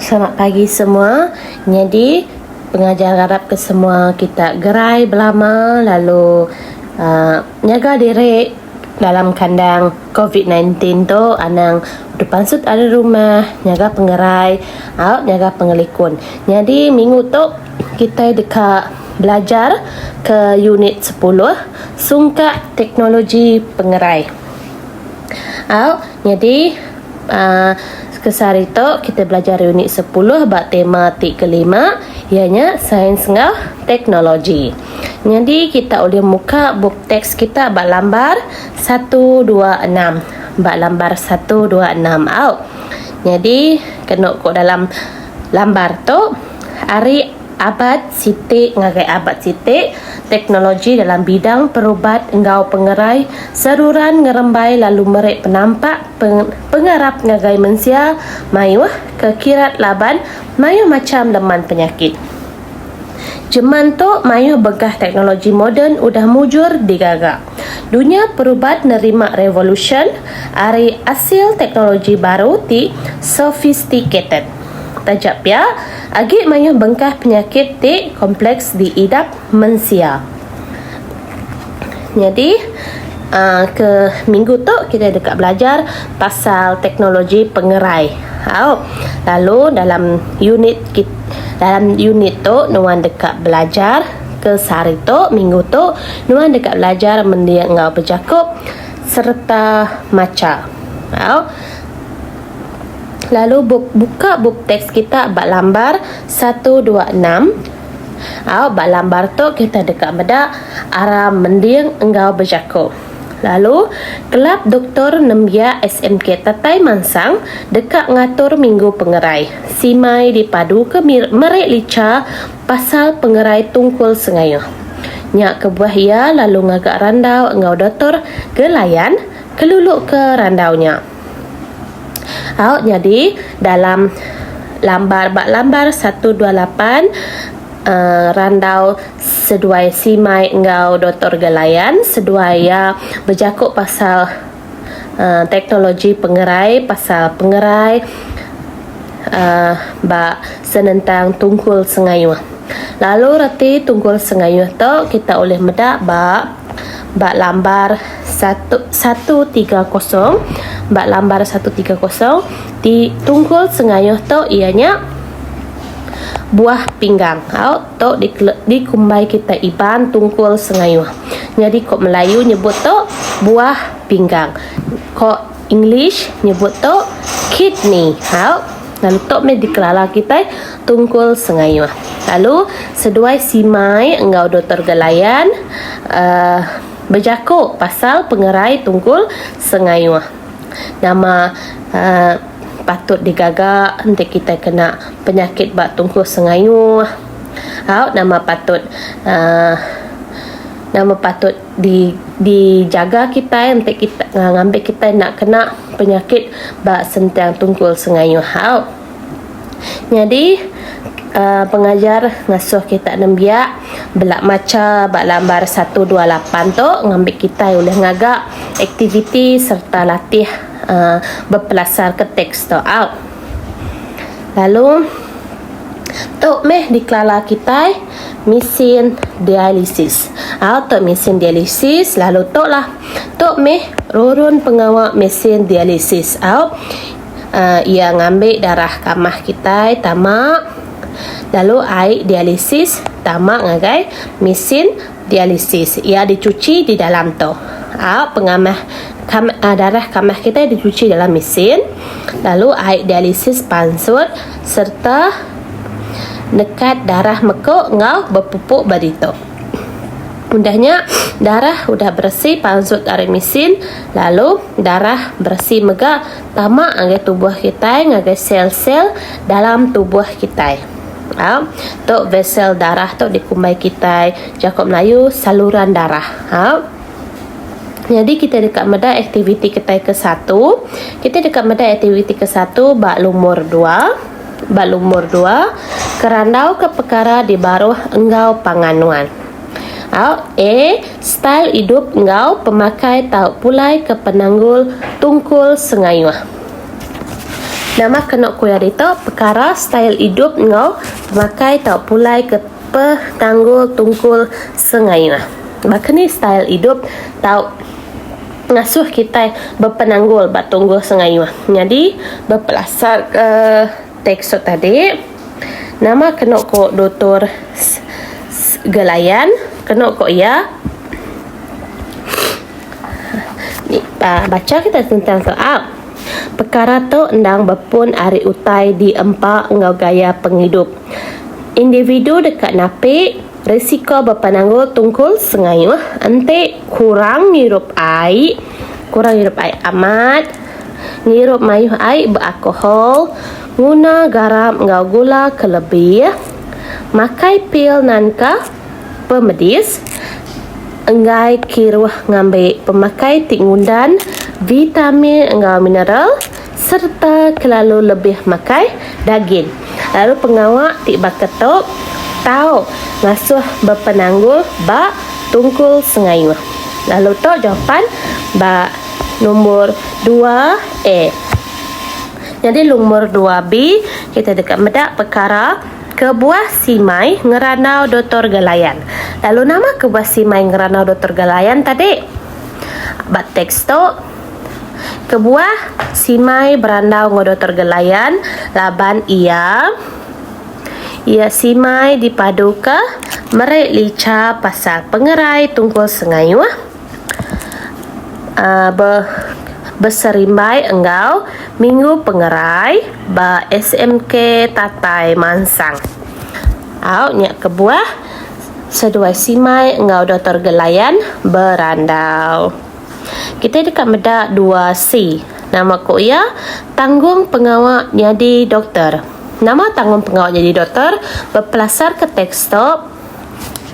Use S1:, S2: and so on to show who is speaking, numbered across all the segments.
S1: Selamat pagi semua. Nyadi pengajar ngarap ke semua kita gerai belama lalu uhh nyaga diri dalam kandang covid sembilan belas tu anang duduk pansut ari rumah nyaga pengerai au nyaga pengelikun. Nyadi minggu tu kitai deka belajar ke unit sepuluh sungkak teknologi pengerai. Au. Nyadi, sekesari tu kita belajar unit sepuluh ba tema ti kelima iya nya Sains enggau Teknologi. Nyadi kita ulih muka bup teks kita ba lambar satu dua enam. Ba lambar satu dua enam au. Nyadi kenu ku dalam lambar tu ari Abad siti ngagai abad siti, teknologi dalam bidang perubat enggau pengerai seruran ngerembai lalu meri penampak pengarap ngagai mensia mayuh ke kirat laban mayuh macham leman penyakit. Jeman tu mayuh begah teknologi moden udah mujur digaga. Dunya perubat nerima revolusyen ari asil teknologi baru ti sophisticated. Taja pia, Agi mayuh bengkah penyakit ti kompleks diidap mensia. Nyadi ke minggu tu kitai deka belajar pasal teknologi pengerai. Au lalu dalam unit kit dalam unit tu nuan deka belajar ke sehari tu minggu tu nuan deka belajar mendir enggau bejaku sereta macha. Au. Lalu buka bup teks kita ba lambar 126. Au ba lambar tu kita deka meda aram mending enggau bejaku. Lalu kelab doktor nembiak SMK Tetai Mansang deka ngatur minggu pengerai simai dipaduka meri licha pasal pengerai tungkul sengaya. Nya kebuah iya lalu ngaga randau enggau Dotor Gelayan keluluka randau nya. Au nyadi dalam lambar ba lambar satu dua lapan uhh randau seduai simai enggau Doktor Gelayan seduai iya bejaku pasal uhh teknologi pengerai pasal pengerai uhh ba senentang Tunggul Sengayuh. Lalu reti Tunggul Sengayuh tu kita ulih meda ba. ba lambar satu satu tiga kosong ba lambar satu tiga kosong ti tunggul sengayuh tu iya nya buah pinggang au tu di dikumbai kita Iban tunggul sengayuh nyadi ko Melayu nyebut tu buah pinggang ko English nyebut tu kidney help lalu tu meh dikelala kitai Tunggul Sengayuh lalu seduai simai enggau Doktor Gelayan uhh bejaku pasal pengerai Tunggul Sengayuh nama uhh patut digaga enti kitai kena penyakit ba Tunggul Sengayuh au nama patut uhh nama patut di di jaga kitai enti kitai ngambi kitai enda kena penyakit ba sentiang tungkul sengayuh hau nyadi uhh pengajar ngasuh kitai nembiak bela macha ba lambar satu dua lapan tu ngambi kitai ulih ngaga aktiviti sereta latih uhh bepelasar ke teks tu au lalu tu meh dikelala kitai. mesin dialisis. Au tu mesin dialisis lalu tu lah. Tu meh rurun pengawa mesin dialisis au. Uh, ia ngambil darah kamah kita tama lalu ai dialisis tama ngagai mesin dialisis. Ia dicuci di dalam tu. Au pengamah kam, uh, darah kamah kita dicuci dalam mesin lalu ai dialisis pansut sereta nekat darah meku enggau bepupuk ba ditu. Udah nya, darah udah beresi pansut ari mesin lalu darah beresi mega tama ngagai tubuh kitai ngagai sel-sel dalam tubuh kitai. A, tu vesel darah tu dikumbai kitai, jaku Melayu saluran darah. A. Nyadi kita deka meda aktiviti kitai ke satu. Kita deka meda aktiviti ke satu ba lumur dua. Ba lumur dua, kerandauka pekara di baruh enggau pangan nuan. Au A. Style idup enggau pemakai tau pulai ke penanggul tungkul sengayuh. Nama kenu ku iya ditu? Pekara style idup enggau pemakai tau pulai ke. Peh tanggul tungkul sengaya. Baka ni style idup tau ngasuh kitai bepenanggul ba tunggul sengaya. Nyadi bepelasarka tekstur tadi, nama kenu ku Dutur Gelayan kenu ku iya bacha kitai sentang tu au pekara tu endang bepun ari utai diempa enggau gaya pengidup. Individu deka napi risiko bepenanggul tungkul sengayuh enti kurang ngirup ai, kurang ngirup ai amat, ngirup mayuh ai ba alkohol, nguna garam enggau gula ke lebih, makai pil nanka pemedis, enggai kiruh ngambi pemakai ti ngundan vitamin enggau mineral. sereta kelalu lebih makai dagin lalu pengawa ti baka tu tau ngasuh bepenanggul ba tungkul sengayuh lalu tu jawapan ba numbur 2A nyadi numbur 2B kita deka meda pekara kebuah simai ngerandau Dotor Galayan lalu nama kebuah simai ngerandau Dotor Galayan tadi ba teks tu. Kebuah, Simai berandau enggau Doktor Gelayan laban iya iya Simai dipaduka meri licha pasal pengerai tungkul sengayuh be beserimbai enggau Minggu Pengerai ba SMK Tatai Mansang. Au nya kebuah seduai Simai enggau Doktor Gelayan berandau. Kitai deka meda dua si. Nama ko iya? Tanggung pengawa nyadi doktor. Nama tanggung pengawa nyadi doktor? Bepelasar ke teks to.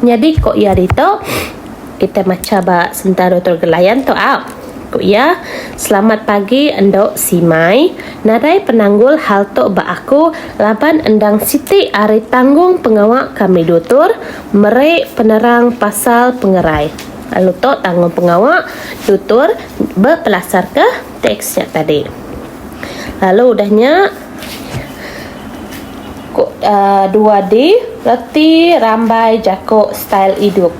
S1: Nyadi ko iya ditu? Kitai macha ba sentara doktor Gelayan to au. Ko iya, Selamat pagi endo Simai. Nadai penanggul hal to ba aku laban endang siti ari tanggung pengawa kami dutur mere penerang pasal pengerai. Lalu tu tanggungpengawa tutor bepelasarka teks nya tadi. Lalu udah nya ko uh, 2D reti rambai jaku style idup.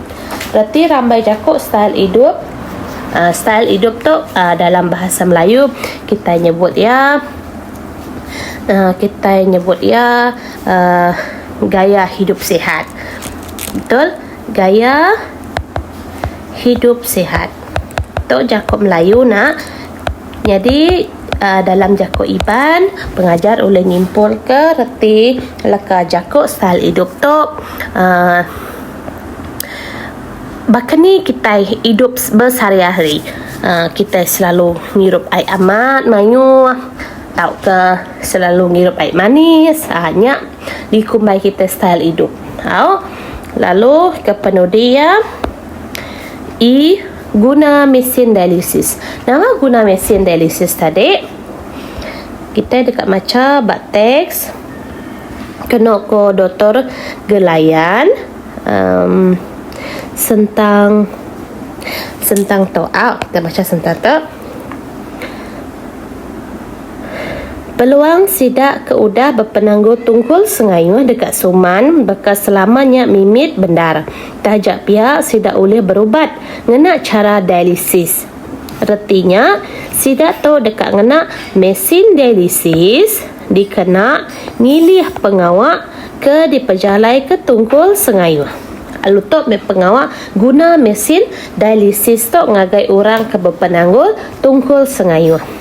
S1: Reti rambai jaku style idup Uh, style idup tu uh, dalam bahasa Melayu kita nyebut ya uh, kita nyebut ya uh, gaya hidup sihat. Betul? Gaya hidup sihat. Tu jaku Melayu nak. Nyadi dalam jaku Iban, pengajar ulih nyimpulka reti leka jaku style idup tu uhh baka ni kitai idup besehari-hari. uhh Kitai selalu ngirup ai amat mayuh tauka selalu ngirup ai manis. uhh Nya. dikumbai kita style idup au lalu kepenudi iya i guna mesin dialisis nama guna mesin dialisis tadi kita deka macha ba teks keno ko doktor gelayan um sentang sentang tu au kita macha sentang tu. Peluang sida ke udah bepenanggul tunggul sengayuh deka suman baka selama nya mimit bendar, taja pia sida ulih berubat ngena chara dialisis. Reti nya, sida tu deka ngena mesin dialisis dikena ngilih pengawa ke dipejalaika tunggul sengayuh. Lalu tu meh pengawa guna mesin dialisis tu ngagai orang ke bepenanggul tunggul sengayuh.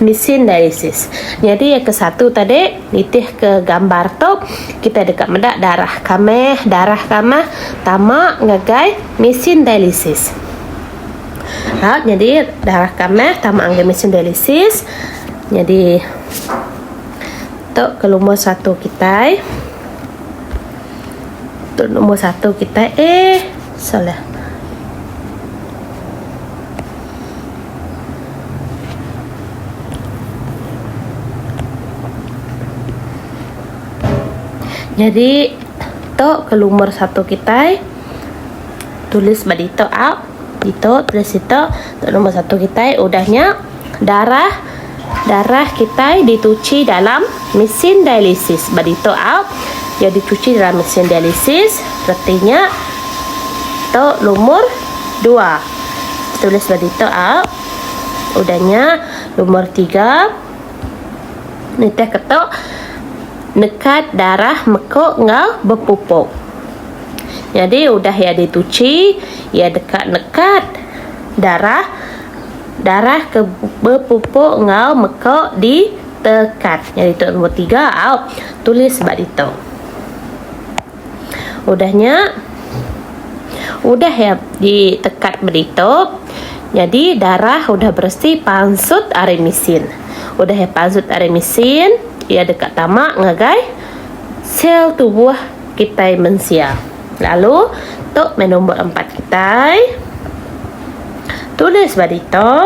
S1: Mesin dialisis. Nyadi iya ke satu tadi nitih ke gambar tu kita deka meda darah kameh darah kameh tama ngagai mesin dialisis. Ha nyadi darah kameh tama ngagai mesin dialisis nyadi tu ke lumur satu kitai tu lumur satu kitai eh. Salah. Nyadi tu ke lumur satu kitai tulis ba ditu au. Ditu tulis ditu tu lumur satu kitai udah nya. Darah darah kitai dituchi dalam mesin dialisis. Ba ditu aut iya dituchi dalam mesin dialisis reti nya tu lumur dua. Tulis ba ditu aut udah nya lumur tiga nitihka tu nekat darah meku enggau bepupuk. Nyadi udah iya dituchi iya deka nekat darah. Darah ke bepupuk enggau meko di tekat. Nya ditu nombor tiga au tulis ba ditu. Udah nya udah ya di tekat ba ditu nyadi darah udah beresi pansut ari mesin. Udah ya pansut ari mesin iya deka tama ngagai sel tubuh kitai mensia. Lalu tu meh nombor empat kitai. Tulis ba ditu.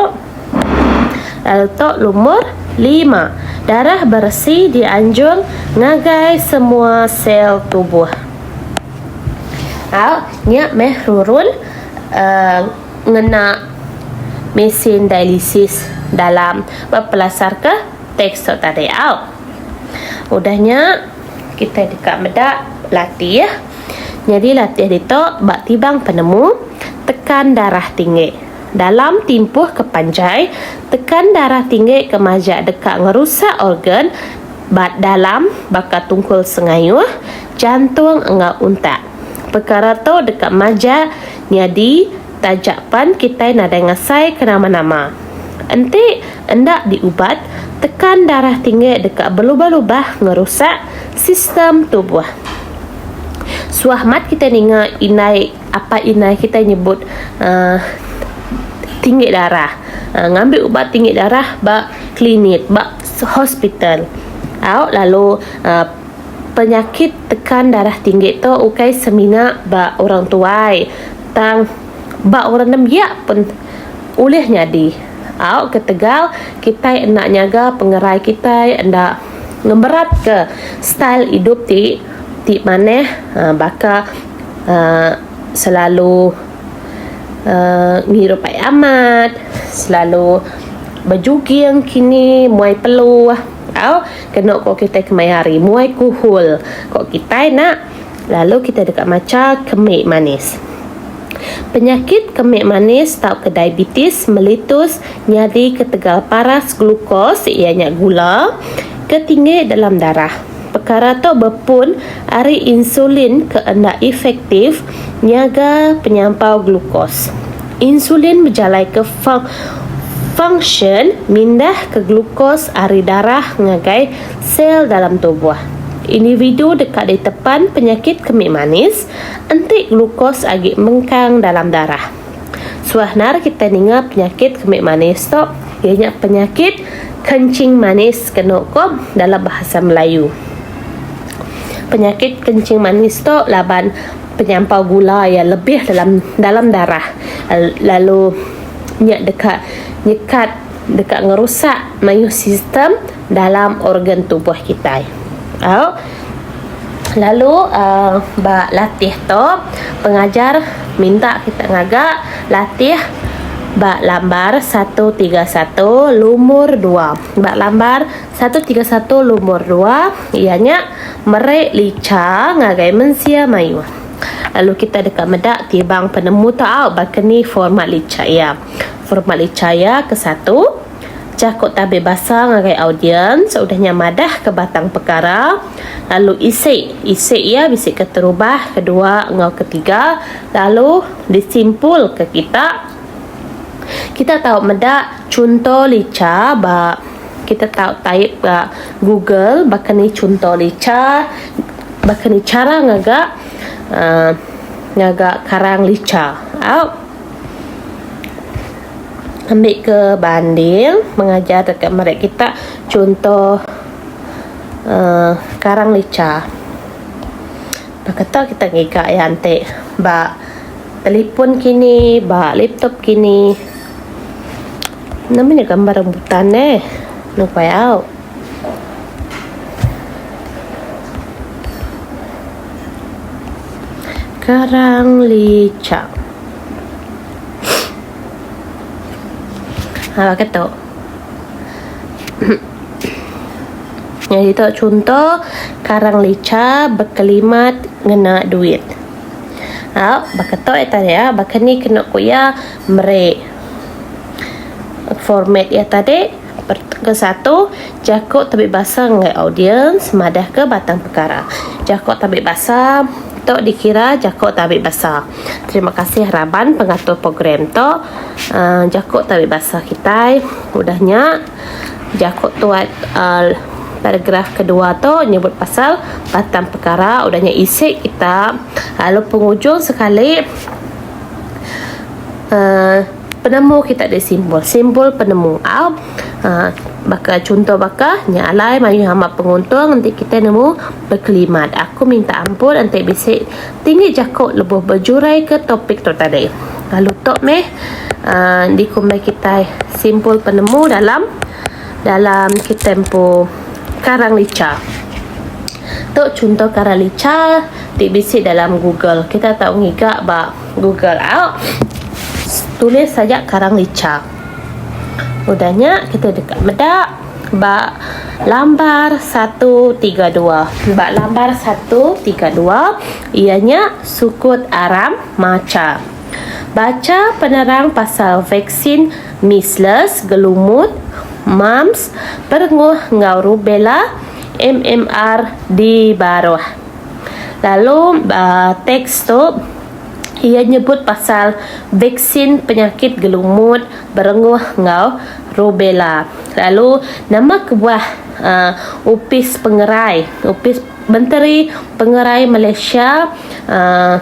S1: Lalu tu lumur lima. Darah beresi dianjung ngagai semua sel tubuh. Au, nya meh rurun uh, ngena mesin dialisis dalam bepelasarka teks tu tadi. Au. Udah nya. Kita deka meda latih. Nyadi latih ditu ba tibang penemu tekan darah tinggi. Dalam timpuh ke panjai, tekan darah tinggi ke majak deka ngerusak organ ba dalam baka tungkul sengayuh, jantung enggau untak. Pekara tu deka majak nyadi. Taja pan kitai nadai ngasai ke nama-nama. Enti enda diubat, tekan darah tinggi deka belubah-lubah ngerusak sistem tubuh. Suah amat kitai ninga indai apai indai kitai nyebut uhh tinggi darah, ngambi ubat tinggi darah ba klinik, ba hospital. Au lalu uhh penyakit tekan darah tinggi tu ukai semina ba orang tuai. Tang, ba orang nembiak pun ulih nyadi. Au ketegal kitai enda nyaga pengerai kitai enda ngemeratka style idup ti ti manah baka uhh selalu uhh ngirup ai amat, selalu bejuging kini muai peluh au kenu ko kitai kemaya hari muai kuhul ko kitai nak. Lalu kita deka macha kemi manis. Penyakit kemi manis tauka diabetes melitus nyadi ketegal paras glukos iya nya gula ke tinggi dalam darah. Pekara tu bepun ari insulin ke enda efektif nyaga penyampau glukos. Insulin bejalaika fung fungsyen mindahka glukos ari darah ngagai Sel dalam tubuh individu deka ditepan penyakit kemik manis enti glukos agi mengkang dalam darah. Suah nara kitai ninga penyakit kemik manis tu iya nya penyakit kencing manis kenu ko dalam bahasa Melayu. Penyakit kencing manis tu laban penyampau gula iya lebih dalam dalam darah lalu nya deka nyekat deka ngerusak mayuh sistem dalam organ tubuh kitai. Au. Lalu uh, ba latih tu pengajar minta kita ngaga latih ba lambar 131 lumur 2. Ba lambar 131 lumur 2 iya nya meri licha ngagai mensia mayuh. Lalu kita deka meda tibang penemu tu au baka ni format licha iya. Format Licaya ke satu, Jaku tabi basa ngagai audiens udah nya madahka batang pekara lalu isi isi iya bisi keterubah kedua enggau ketiga lalu disimpulka kita kita tau meda chunto licha ba kita tau type ba google baka ni chunto licha baka ni chara ngaga uhh ngaga karang licha au. Ambil ke banding mengajar dekat meret kita contoh uh, karang licha. Pak kata kita ngiga iya enti ba telefon kini, ba laptop kini. Nama nya gambar rambutan neh. Nang payau. Karang licak. Ha ke tu? Yang itu contoh karang lica berkelimat ngena duit. Au, baka tu ya tadi ya, baka ni kena ku iya meri format iya tadi. Perengka satu, Jaku tabi basa enggai audiens madahka batang pekara. Jaku tabi basa tu dikira jaku tabi basa. Terima kasih raban pengatur program tu. Jaku tabi basa kitai udah nya jaku tu paragraf kedua tu nyebut pasal batang pekara udah nya isi kita lalu pengujung sekali uhh Penemu kita ada simbol. Simbol penemu. Au. Ha, baka contoh baka nya alai mayuh amat penguntung enti kita nemu berkelimat. Aku minta ampun enti bisi tinggi jaku lebuh berjurai ke topik tu tadi. Lalu tu meh uh, dikumbai kita simbol penemu dalam dalam kita empu karang licha. Tu contoh karang licha ti bisi dalam Google. Kita tahu ngiga ba Google out tulis saja karang licha udah nya kita deka meda ba lambar 132 ba lambar 132 iya nya sukut aram macha bacha penerang pasal vaksin measles gelumut mumps perenguh enggau rubella mmr di baruh. Lalu ba teks tu iya nyebut pasal vaksin penyakit gelumut berenguh enggau rubella. Lalu nama kebuah uhh opis pengerai opis menteri pengerai Malaysia uhh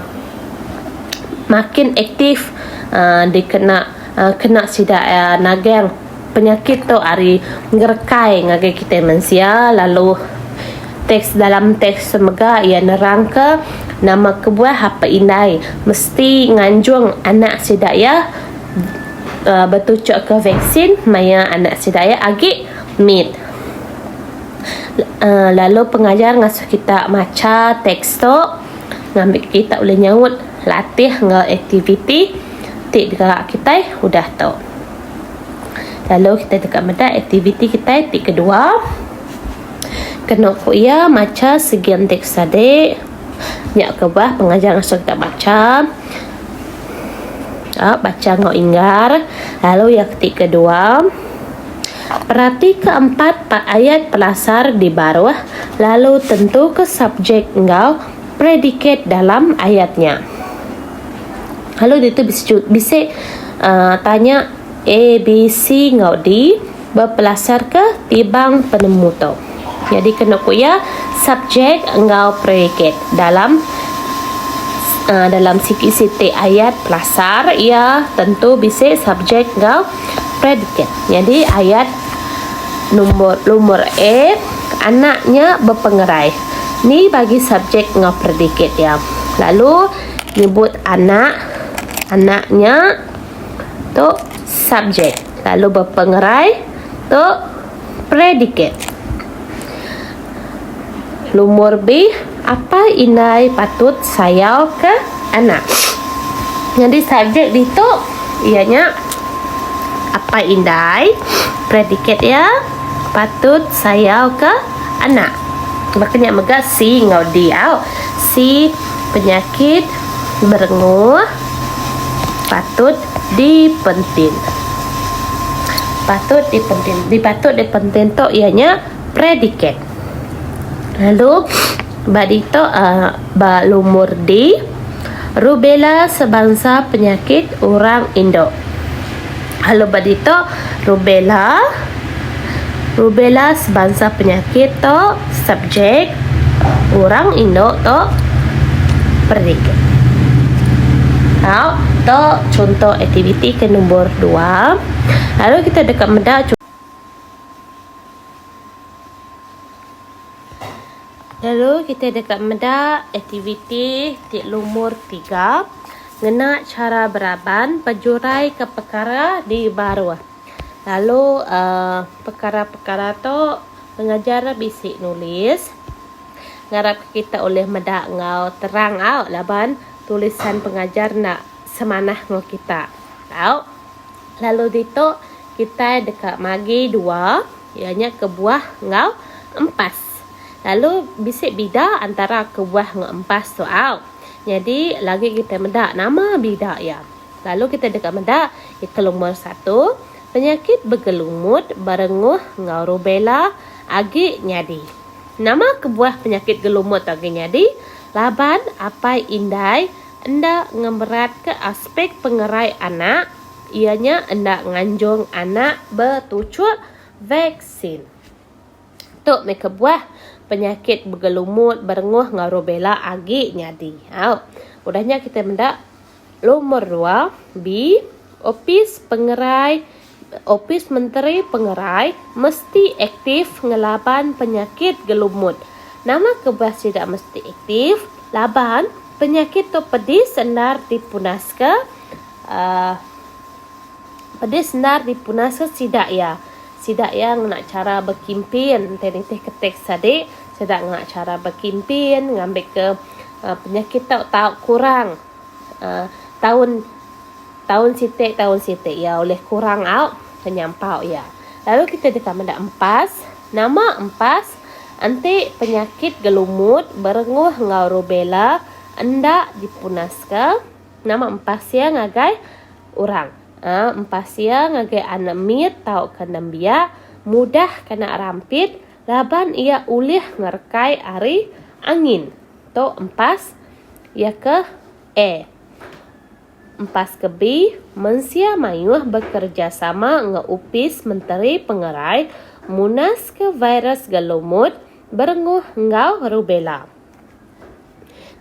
S1: makin aktif uhh dikena. kena sida nagang penyakit tu ari ngerekai ngagai kitai mensia lalu teks dalam teks mega iya nerangka nama kebuah apai indai mesti nganjung anak sida iya betuchukka vaksin maya anak sida iya agi mit lalu pengajar ngasuh kita macha teks tu ngambi kita ulih nyaut. latih enggau aktiviti ti digerak kitai udah tu. Lalu kitai deka meda aktiviti kitai ti kedua kenu ku iya macha sigi enti ke sadi nya ke bah pengajar ngasuh kita bacha aaa bacha enggau inggar lalu yang ti kedua peratika empat ayat pelasar di baruh lalu tentuka subjek enggau. predikat dalam ayat nya. Lalu ditu bisi bisi uh, tanya A, B, C enggau D berpelasarka tibang penemu tu. Jadi kena ku iya subjek enggau predikat dalam uh, dalam sikit-sikit ayat pelasar ia tentu bisi subjek enggau predikat. Jadi ayat nombor nombor A anaknya berpengerai. Ni bagi subjek enggau predikat iya. Lalu nyebut anak, anak nya tu subjek. Lalu bepengerai tu predikat. Lumur bih apai indai patut sayau ke anak. Nyadi subjek ditu iya nya apai indai predikat iya patut sayau ke anak. Baka nya mega C enggau D au. C penyakit merenguh patut dipentin. Patut dipentin. Di patut dipentin tu iya nya predikat. Lalu ba ditu uh, ba lumur D rubella sebansa penyakit orang indu. Lalu ba ditu rubella rubella sebansa penyakit tu subjek orang indu tu perik. Tau tu chunto aktiviti ke nombor dua. Lalu kita deka meda Lalu kita deka meda aktiviti ti lumur tiga ngena chara beraban pejuraika pekara di baruh. Lalu uhh pekara-pekara tu pengajar bisi nulis ngarap kita ulih meda enggau terang au laban tulisan pengajar enda semanah enggau kita tau. Lalu ditu kitai deka magi dua. Iya nya kebuah enggau empas. Lalu bisi bida antara kebuah enggau empas tu au. Nyadi lagi kitai meda nama bida iya. Lalu kitai deka meda iya ke lumur satu, penyakit begelumut, berenguh enggau rubella agi nyadi. Nama kebuah penyakit gelumut tu agi nyadi laban apai indai enda ngemeratka aspek pengerai anak. Iya nya enda nganjung anak betuchuk vaksin. Tu meh kebuah penyakit begelumut, berenguh enggau rubella agi nyadi. Au. Udah nya kitai meda lumur dua di Opis Pengerai Opis Menteri Pengerai mesti aktif ngelaban penyakit gelumut. Nama kebuah sida mesti aktif? Laban penyakit tu pedis endar dipunaska. Aaa. Pedis endar dipunasa sida iya. Sida iya ngena chara bekimpin enti nitihka teks adi sida ngena chara bekimpin ngambika penyakit tau tau kurang aaa taun taun siti taun siti iya ulih kurang au penyampau iya. Lalu kita deka meda empas. Nama empas? Enti penyakit gelumut berenguh enggau rubella enda dipunaska. Nama empah sia ngagai orang? Uh, empah sia ngagai anak mit tauka nembiak mudah kena rampit laban iya ulih ngerekai ari angin. Tu empas iya ke A. Empas ke B, mensia mayuh bekerejasama enggau Opis Menteri Pengerai munaska virus gelumut, berenguh enggau rubella.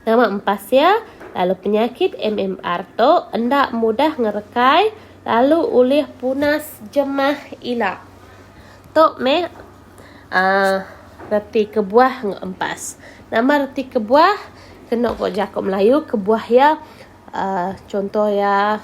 S1: Nama empas iya lalu penyakit MMR tu enda mudah ngerekai lalu ulih punas jemah ila. Tu meh aaa reti kebuah enggau empas. Nama reti kebuah kenu ko jaku melayu kebuah iya aaa chunto iya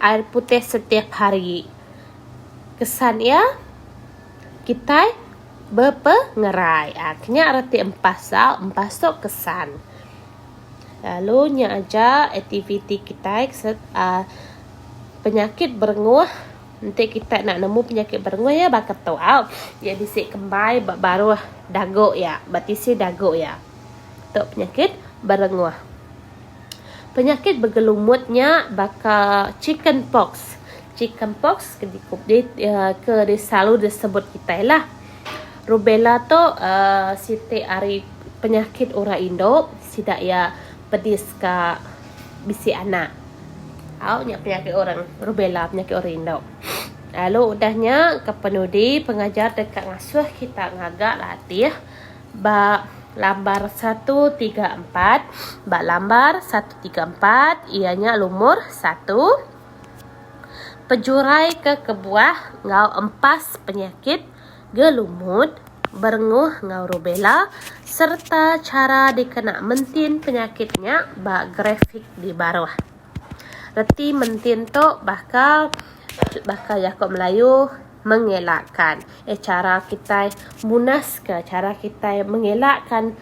S1: air putih setiap hari. Kesan iya kitai bepengerai. Aa kinya reti empas sau empas tu kesan. Lalu nya aja aktiviti kitai aa penyakit berenguh enti kitai enda nemu penyakit berenguh iya baka tu au iya bisi kembai ba baruh dagu iya ba tisi dagu iya. Tu penyakit berenguh. Penyakit begelumut nya baka chicken pox. Chicken pox ke ke selalu disebut kitai lah. Rubella tu uhh siti ari penyakit orang indu sida iya pedis ka bisi anak. Au nya penyakit orang rubella penyakit orang indu. Lalu udah nya ke penudi pengajar deka ngasuh kita ngaga latih. Ba lambar satu tiga empat, ba lambar satu tiga empat iya nya lumur satu pejurai ke kebuah enggau empas penyakit gelumut berenguh enggau rubella sereta chara dikena mentin penyakit nya ba grafik di baruh. Reti mentin tu baka baka jaku melayu mengelakkan eh chara kitai munaska chara kitai mengelakkan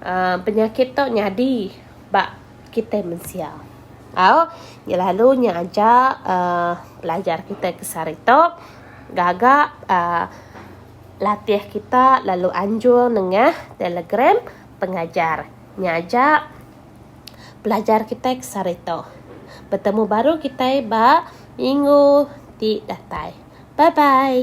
S1: uhh penyakit tu nyadi ba kitai mensia au lalu nya aja uhh pelajar kitai ke sehari tu gaga uhh latih kita lalu anjung nengah telegram pengajar nya aja. pelajar kitai ke sehari tu. Betemu baru kitai ba minggu ti datai. Bye bye.